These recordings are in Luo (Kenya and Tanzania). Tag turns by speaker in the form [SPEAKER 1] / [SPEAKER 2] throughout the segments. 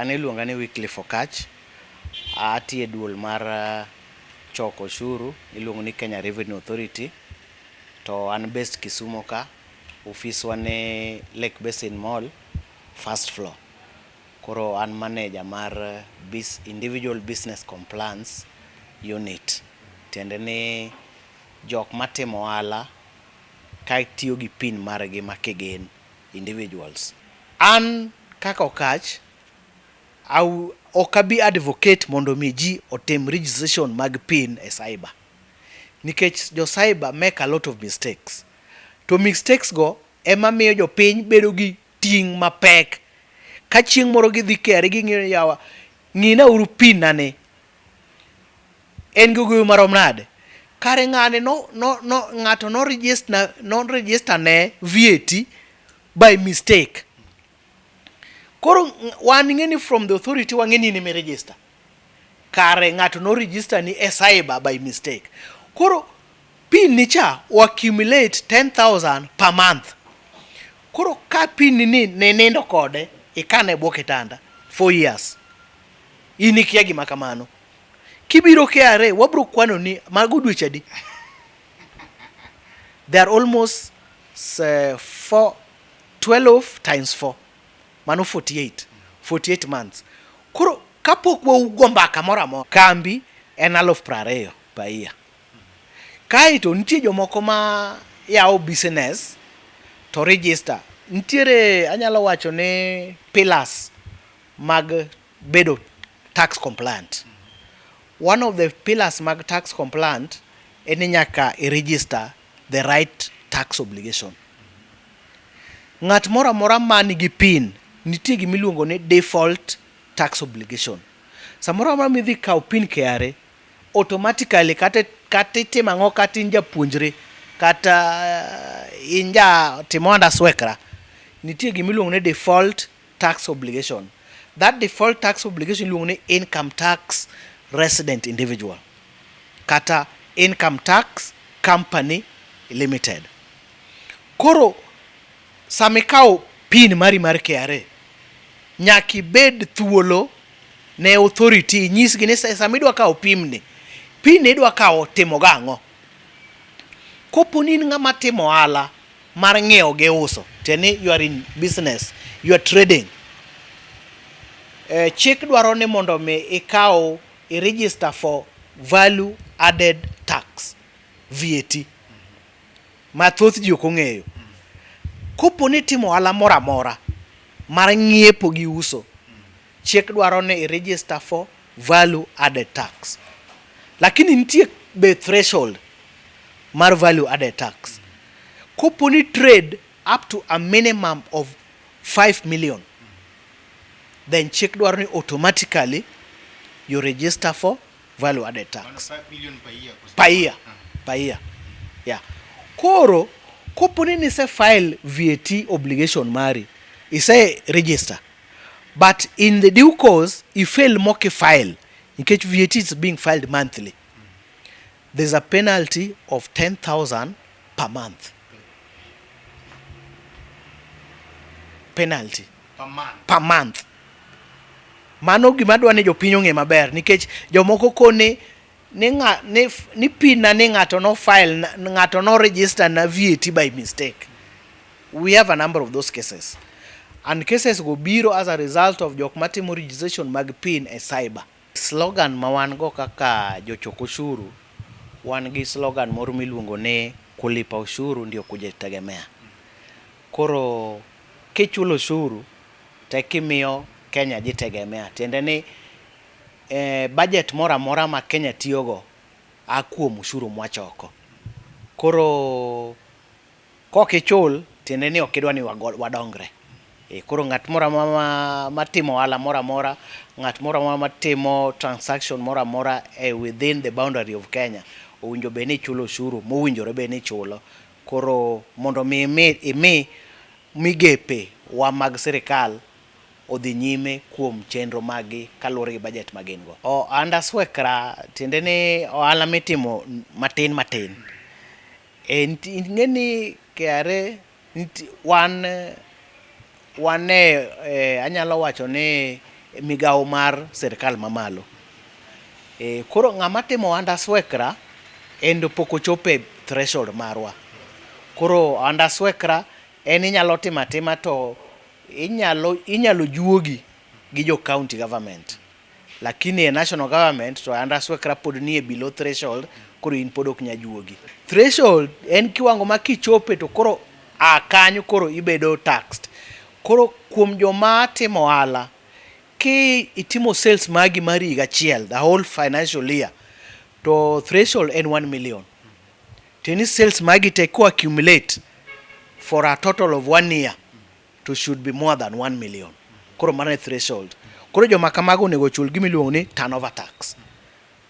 [SPEAKER 1] An iluonga ni Wycliffe Okatch, atiyo e duol mar choko oshuru miluongo ni Kenya Revenue Authority to an based Kisumo ka, ofis wa ni Lake Basin Mall first floor. Koro an maneja mar individual business compliance unit tiende ni jok matimo ohala katiyo gi pin margi ma kigen individuals. An kaka Okatch, ok abi advocate mondo mi ji otim registration mag pin e cyber. Nikech jo cyber make a lot of mistakes. To mistakes go ema miyo jopiny bedo gi ting' mapek. Ka chieng' moro gidhi KRA ging'iyo ni yawa ng'ina uru pin na ni. En gi ogoyo marom nade? Kare ng'ani no no no ng'ato no register no register ne VAT by mistake. Koro wan ing'eni from the authority wang'e ni in emi register. Kare ng'ato no register ni e cyber by mistake. Koro pin ni cha o accumulate 10,000 per month. Koro ka pin ni ni ninindo kode ikane e bwo kitanda for years. In ikia gima kamano. Kibiro KRA wabro kwano ni mago dweche adi? They are almost uh, four, 12 times 4 mano 48 48 months. Koro kapok waugo mbaka moro amora kambi en aluf piero ariyo per year. Kaeto nitie jomoko ma yawo business to register. Nitiere anyalo wacho ni pillars mag bedo tax compliant. One of the pillars mag tax compliant en ni nyaka i register the right tax obligation. Ng'at moro amora man gi pin nitie gima iluongo ni default tax obligation. Samoro amora ma idhi kawo pin KRA, automatically kata kata itimo ang'o kata in japuonjre kata in ja timo anda swekra, nitie gima iluongo ni default tax obligation. That default tax obligation iluongo ni income tax resident individual kata income tax company limited. Koro sama ikawo pin mari mar KRA nyaka ibed thuolo ne authority inyisgi ni sama idwa kawo pin ni pin ni idwa kawo timo go ang'o. Kopo ni in ng'ama timo ohala mar ng'iewo gi uso, tiende ni you are in business, you are trading. Chik dwaro ni mondo mi ikaw i register for value added tax, VAT, ma thoth ji ok ong'eyo. Koponi itimo ohala moro amora mar ng'iepo gi uso. Chik dwaro ni i register for value added tax lakini nitie be threshold mar value added tax. Kopo ni trade up to a minimum of five million then chik dwaro ni automatically you register for value added tax. Five million
[SPEAKER 2] per year. Per year.
[SPEAKER 1] Per year. Yeah. Koro kopo ni nise file VAT obligation mari ise register But in the due course, i fail mock file, nikech VAT is being filed monthly. There's a penalty of 10,000 per month. Penalty. Per month. Per month. Mano gima dwa ni jopiny ong'e maber nikech jomoko kone ni nga, ni, ni pin na ni ng'ato no file na, ng'ato no register na VAT by mistake. We have a number of those cases. And cases go biro as a result of jok matimo registration mag pin e cyber. Slogan ma wan go kaka jochok ushuru, wan gi slogan moro miluongo ni kulipa ushuru ndio kujitegemea. Koro kichulo ushuru to ekimiyo Kenya jitegemea. Tiende ni Ee, bajet moro amora ma Kenya tiyogo a kuom ushuru mwachoko. Koro kok ichul tiende ni ok idwa ni wadongre. Ee, koro ng'at moro amora matimo ohala moro amora, ng'at moro amora matimo transaction moro amora e within the boundary of Kenya owinjo bed ni chulo ushuru mowinjore bed ni chulo. Koro mondo mi imi migepe wa mag sirkal. odhi nyime kuom chenro maggi kaluwore gi bajet ma gin go. Ohanda swekra tiende ni ohala mitimo matin matin. Ing'e ni KRA wan wan e anyalo wacho ni migawo mar sirikal ma malo. Koro ng'ama timo ohanda swekra en to pok ochopo e threshold marwa. Koro ohanda swekra en inyalo timo atima to Inyalo inyalo juogi gi jo county government lakini e national government to under swkra pod nie below threshold koro in pod ok nyal juogi. Threshold en kiwango ma kichope to koro a kanyo koro ibedo taxed. Koro kuom joma timo ohala, ki itimo sales magi mar higa achiel, the whole financial year, to threshold en one million. Teni cells magi te ko accumulate for a total of one year to should be more than 1 million. Koro mano e threshold. Koro joma kamago onego ochul gima iluongo ni turnover tax.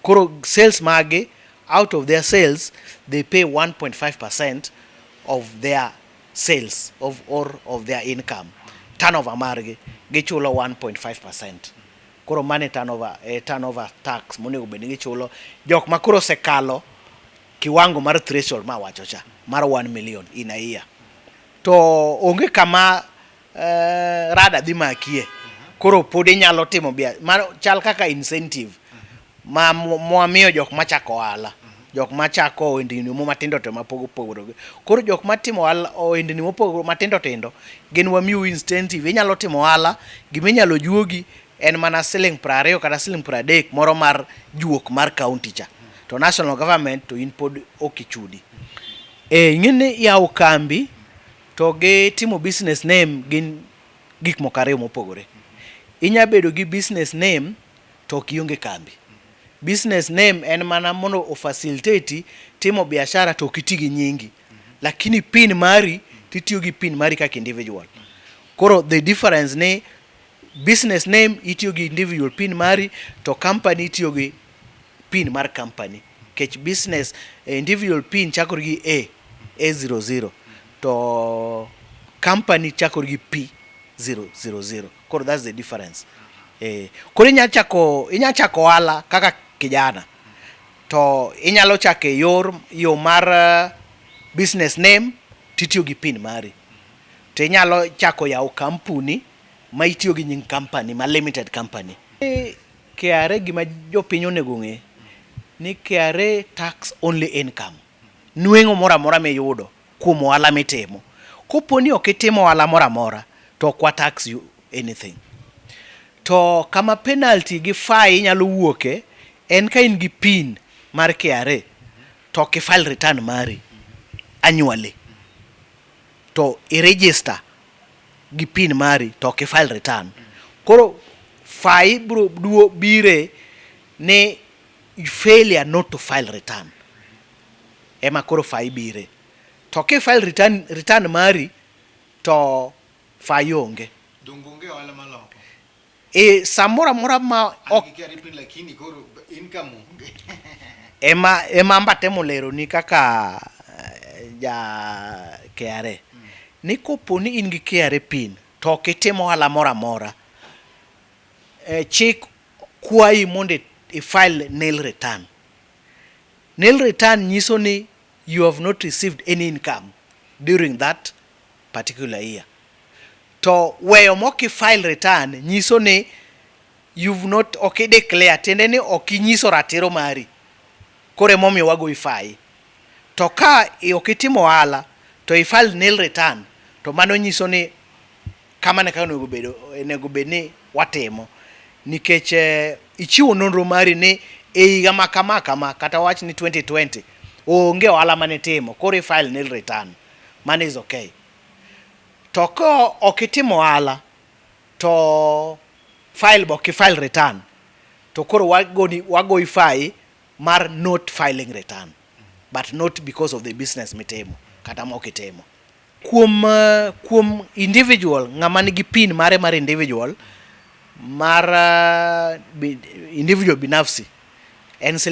[SPEAKER 1] Koro sales magi out of their sales they pay 1.5% of their sales of or of their income. Turnover margi gichulo 1.5%. Koro mano e turnover, e turnover tax monego bed ni gichulo jok ma koro osekalo kiwango mar threshold ma awacho cha mar one million in a year. To onge kama rada dhi makie, koro pod inyalo timo biashara, mano chal kaka incentive. ma mwamiyo jok machako ohala jok machako ohendni mo matindo to mapogo pogore koro jok matimo ohala ohendni mopogore matindo tindo gin wamiu incentive inyalo timo ohala gima inyalo juogi en mana siling prariyo kata siling pradek moro mar juok mar county cha to national government to in pod ok ichudi e ing'eni yawo kambi to gi timo business name gin gik moko ariyo mopogore inya bedo gi business name to ok ionge kambi. Business name en mana mondo o facilitate timo biashara to ok iti gi nyingi. Lakini pin mari to itiyo gi pin mari kaka individual. Koro the difference ni business name itiyo gi individual pin mari to company itiyo gi pin mar company. Kech business eh, individual pin chakore gi A, A00 to company chakore gi P000. Koro that's the difference. Eh, koro inya chako inya chako ohala kaka kijana. To inyalo chako e yor yo mar eh, business name titiyo gi pin mari. To inyalo chako yawo kampuni ma itiyo gi nying company ma limited company. Eh, KRA gima jopiny onego ng'e ni KRA tax only income. Nweng'o moro amora miyudo. kuom ohala mitimo. Kopo ni ok itimo ohala moro amora to ok wa tax you anything. To kama penalty gi fine nyalo wuoke en ka in gi pin mar KRA to ok i file return mari annually to i register gi pin mari to ok i file return. Koro fine biro duo bire ni failure not to file return. ema koro fai bire. To ki file return return mari to fai onge. Donge onge ohala ma
[SPEAKER 2] loko? E,
[SPEAKER 1] samoro amora ma An ok gi KRA pin lakini
[SPEAKER 2] koro income onge. ema
[SPEAKER 1] ema amba temo leroni kaka eh, ja KRA ni kopo ni in gi KRA pin to ok itim ohala moro amora eh, chik kwayi mondo i- i file nil return Nil return nyiso ni you have not received any income during that particular year. To weyo mok i file return nyiso ni you've not, ok i declare, tiende ni ok inyiso ratiro mari koro ema omiyo wagoyi fayi. To ka ok itimo ohala to i file nil return to mano nyiso ni. Kamano e kaka onego bed, onego bed ni watimo. Nikech eh, ichiwo nonro mari ni e higa ma kama kama, kata wach ni 2020, onge ohala mane itimo, koro i-file nil return. Mano is okay. To ka ok itimo ohala, to file be ok i-file return, to koro wagoni, wagoyi fai mar not filing return, but not because of the business mitimo, kata ma ok itimo. Kuom kuom individual ng'ama nigi pin mare mar individual mar individual binafsi en siling'